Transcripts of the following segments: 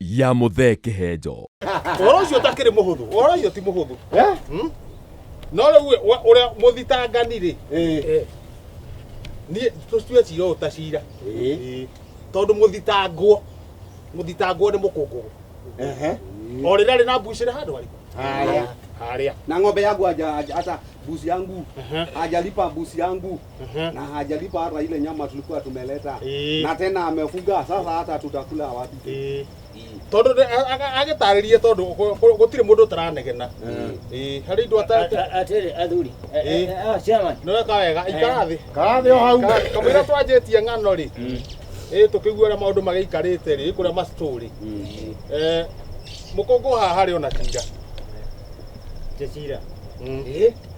ya mũthee kĩhenjo Ũhoro ũcio ũtakĩrĩ mũhũthũ. Ũhoro ũcio ti mũhũthũ. Hmm? No rĩu we- wa- ũrĩa mũthitangani-rĩ, eh, niĩ tũtue cira ũyũ ta cira. Eh, Tondũ mũthitangwo, mũthitangwo nĩ mũkũngũgũ. O rĩrĩa rĩ na mbucĩrĩ handũ harĩkũ? Harĩa. Harĩa. na ng'ombe yangu haja- haja- hata mbuzi yangu hajalipa mbuzi yangu Ehe. na hajalipa hata ile nyama tulikuwa tumeleta Eh. na tena amefuga sasa hata tutakula wapi Eh. tondu agitaririe tondu gutire mundu utaranegena Eh, hari indu atarite atĩrĩ athuri eh, Eh. eh, ah, chairman niweka wega ikara thi karathi o hau kamwira twanjĩtie ng'ano rĩ ĩ tũkĩigua ũrĩa maũndũ magĩikarĩte rĩ kũrĩa macitũrĩ mũkũngũ haha harĩ ona cira tũcira Mm. Eh,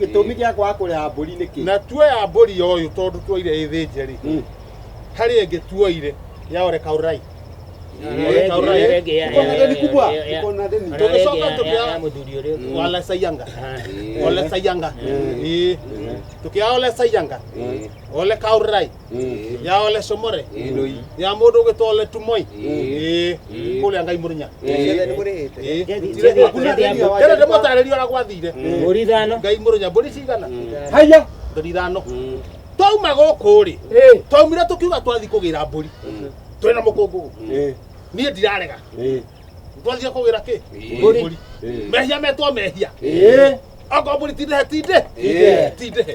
gĩtũmi gĩa kwaga kũrĩha mbũri nĩ kĩ na tuoya mbũri ũyũ tondũ tuoire ĩ thĩnje rĩ Mm. harĩ ĩngĩ tuoire ya ore kaurai Ore kaurai. Ore ĩngĩ ya- Uko na deni kubwa ya- ya- uko na deni Ore Tũgĩcoka ĩngĩ ya- ya- tũkĩa- ya mũthuri ũrĩa ũngĩ. wala sayanga Eh. ole sayanga Eh. Eh. tukiaole sayanga ole kaurai Ĩĩ. ya ole somore Ĩndũi. ya mũndũ ũgĩtwa ole tumoi Ĩĩ. Ĩĩ. kũrĩa ngai mũrinya Ĩĩ. nĩ mũrĩhĩte Ĩĩ. Jethi- Gũtirĩ- Jethi- hakuna- Jethi- Jethi- Jethi- Jethi- mũtarĩria ũrĩa gwathire Mbũri ithano. ngai mũrinya mbũri cigana haya mbũri ithano twauma gũkũ rĩ twaumire tũkiuga twathi kũgĩra mbũri twĩna mũkũngũgũ niĩ ndirarega twathire kũgĩra kĩ Mbũri. mbũri mehia metwo mehia Ĩĩ. oko mbũri tindĩhe tindĩ Ĩĩ. tindĩhe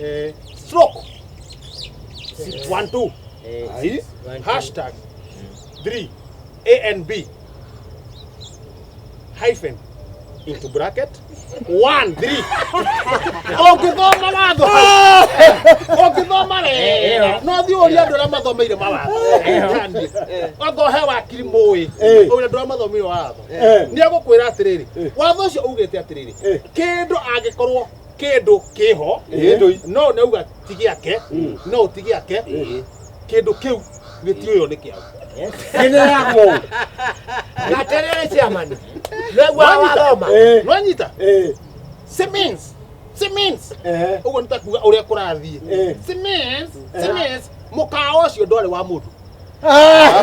eh, stroke Six. one two Eh, Aye. six, one, two. hashtag three a and b hyphen into bracket one three ũngĩthoma watho hau, ũngĩthoma wega no thiĩ ũria andũ arĩa mathomeire mawatho Ndanie. anga ũhe wakiri mũĩ Eh. ũrĩa andũ arĩa mathomeire watho Eh. nĩ egũkwĩra atĩrĩrĩ watho ũcio ugĩte atĩrĩrĩ Eh. kĩndũ angĩkorwo kĩndũ kĩho Kĩndũ- no nauga ti gĩake no ti gĩake kĩndũ kĩu gĩtiũywo nĩ kĩau Kĩneagwo. Na atĩrĩrĩ ciamani. Nĩguo wathoma. Eh. nwanyita Eh, Siemens, Siemens. eh, ũguo nĩ ta kuga ũrĩa kũrathiĩ Eh. Siemens, Siemens. mũkawa ũcio ndwarĩ wa mũndũ Ah!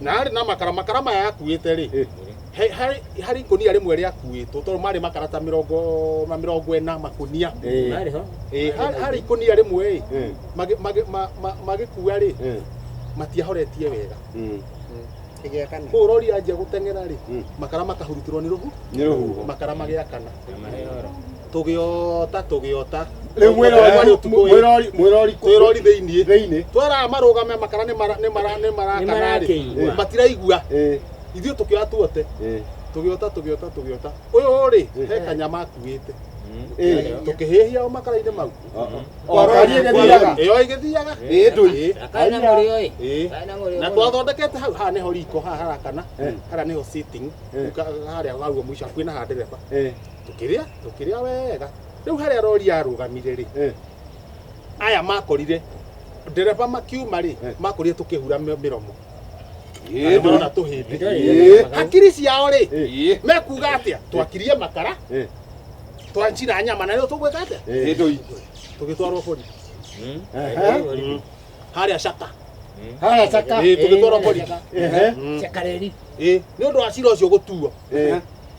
na harĩ na makara makara maya yakuĩte rĩ Eh. he- harĩ- harĩ ikũnia rĩmwe rĩakuĩtwo tondũ marĩ makara ta mĩrongo ma mĩrongo ĩna makũnia Eh. Narĩ ho. Eh, harĩ harĩ ikũnia rĩmwe ĩ Eh. magĩ- magĩ- ma- ma- magĩkua rĩ Eh. matiahoretie wega Mm. ĩgĩakana kũu rori yanjia gũteng'era rĩ Mm. makara makahurutĩrwo nĩ rũhu Nĩ rũhuho. makara magĩakana Na marĩ oro. tũgĩota tũgĩota Rĩu mwĩrori- Tũgĩota ũtukũ ĩ, mwĩrori- mwĩrori kũ- twĩrori thĩinĩ thĩinĩ twera marũgame makara nĩ mara- nĩ mara- nĩ marakanarĩ Nĩmarakĩigua. matiraigua Eh, ithuĩ tũkĩoya tuote eh, tũgĩota tũgĩota tũgĩota ũyũ rĩ Eh. he kanyama akuĩte eh. tũkĩhĩhia o makara-inĩ mau O ngari ĩgĩthiaga. ĩyo ĩgĩthiaga Ĩ, ndũi. Ĩ, Akae na mũrĩo ĩ. ĩ. Akae na mũrĩo na mũno. twathondekete hau haha nĩho riko haha harakana Eh. haria nĩho sitting Eh. Ka- harĩa haguo mũico hakuhĩ na ha ndereba Eh, tũkĩrĩa tũkĩrĩa wega rĩu harĩa rori yarũgamire rĩ Eh. aya makorire ndereba makiuma rĩ Eh. makorire tũkĩhura mĩ- mĩromo Ĩĩ, marona Ĩĩ. tũhĩndĩ hakiri ciao rĩ Ĩĩ. mekuga atĩa twakirie makara Eh. twanjira nyama na rĩu tũgwĩka atĩa Ĩĩ. Ĩndũi. tũgĩtwarwo bori Aha. harĩa caka Haya caka. Ĩĩ, tũgĩtwarwo bori Ehe. Chakareri. Ĩĩ, nĩ ũndũ wa cira ũcio gũtuo Ĩĩ.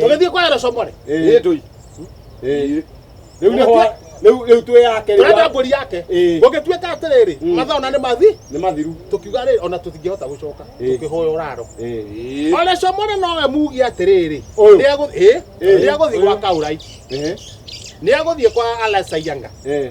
tũgĩthiĩ kwa Erosomore Ĩĩ. ndũi Ĩĩ. Rĩu nĩ ho- rĩu- rĩu twĩ yake rĩu tũrenda ya- mbũri yake Ĩĩ. gũgĩtuĩka atĩrĩrĩ Mm. mathaa ona nĩ mathi nĩ mathiru tũkiuga rĩrĩ ona tũtingĩhota gũcoka Ĩĩ. tũkĩhoya ũraro Ĩĩ. Ole Somore nowe mugi atĩrĩrĩ Ũyũ. rĩa gũthiĩ Ĩĩ. rĩa gũthiĩ Ũyũ. gwa Kaurai Ĩĩ. nĩ agũthiĩ kwa Alasayanga Ĩĩ.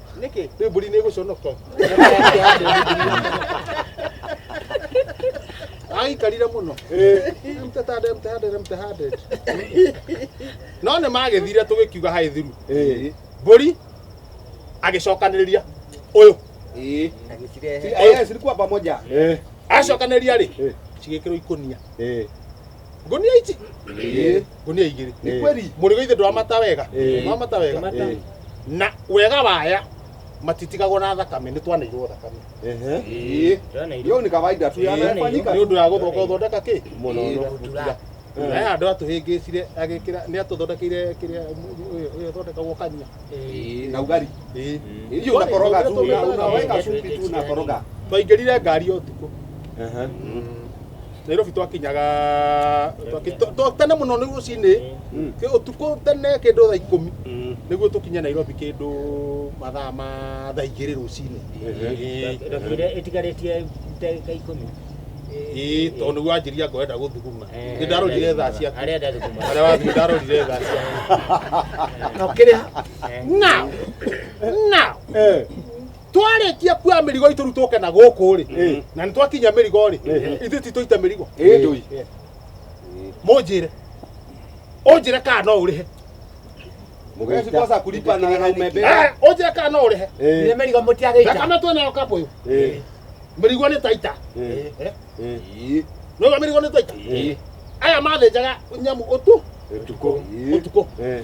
nĩkĩ rĩu mbũri nĩ ĩgũconoka aikarire mũno mtahande mtahande mtahande no nĩ magĩthire tũgĩkiuga haĩ thiru mbũri agĩcokanĩrĩria ũyũ agĩcirehe Eh, zilikuwa pamoja. acokanĩrĩria rĩ Eh. cigĩkĩrwo ikũnia Eh. Ngunia ici. Ĩĩ. Ngunia igĩrĩ. Nĩ kweli. Mũrĩ gũithĩ ndwamata wega. Ĩĩ. Ndwamata wega. Ndwamata. Ĩĩ. Na wega waya matitigagwo na thakame nĩ twanairwo thakame. Ehe. Ĩĩ. Hiyo ni kawaida tu Ĩĩ. yanafanyika. Nĩ ũndũ wa gũthonga ũthondeka kĩ? Mũno. Ĩĩ. Gũtura. Ĩĩ. Aya andũ atũhĩngĩcire agĩkĩra nĩ atũthondekeire kĩrĩa ũyũ ũthondekagwo kanyia. Ĩĩ. Na ugali. Ĩĩ. Hiyo unakoroga tu una- unaweka supu tu unakoroga. Twaingĩrire ngari o tukũ. Ehe. nairobi twakinyaga twaki- twa- twa- tene muno ni rucini ki utuku tene kindu thaa ikumi niguo tukinye nairobi kindu mathaa ma thaa igiri rucini ndogo iria itigarĩtie ndagĩka ikũmi ii tondu niguo anjiria ngoenda guthuguma Eh, ni ndarorire thaa ciaku harĩa ndathuguma aria wathu ndarorire thaa ciaku na ukiriha Eh. now now Eh. twarĩkia kuoya mĩrigo itũ rĩu tũke na gũkũ rĩ Eh. na nĩ twakinya mĩrigo rĩ Eh. ithuĩ ti tũita mĩrigo Eh. Ndũi. Eh. mũnjĩre ũnjĩre kana no ũrĩhe Wewe si kosa kulipa na na umebeba. Eh, ũnjĩre kana no ũrĩhe Ile Eh. merigo mutiageita. thakame twĩ nayo kambũ yũ Eh. mĩrigo nĩ taita Eh. Eh, Eh. nĩũga mĩrigo nĩ taita Eh. aya mathĩnjaga nyamũ ũtu Tuko. ũtukũ Eh.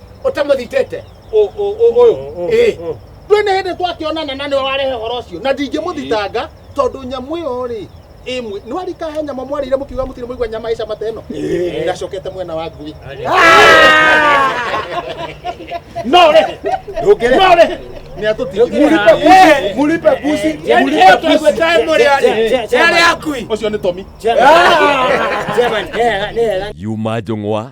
ũtamũthitĩte ũ- ũ- ũ- ũyũ Ĩ. ndwĩ nĩ hĩndĩ twakĩonana na nĩwe warehe ũhoro ũcio na ndingĩmũthitanga tondũ nyamũ ĩyo rĩ ĩmwe nĩ warika he nyama mwarĩire mũkiuga mũtirĩ mũigua nyama ĩca mata ĩno ndacokete mwena wa ngui no rĩ ndũngĩrĩ no rĩ nĩ atũtigĩrĩra Eh. mũlipe busi Yaani mũlipe leo busi. tunakuta hemo leo. Je- je- je- Yale akui. ũcio nĩ tomi Chairman, eh, eh, eh, Yuma Jong'wa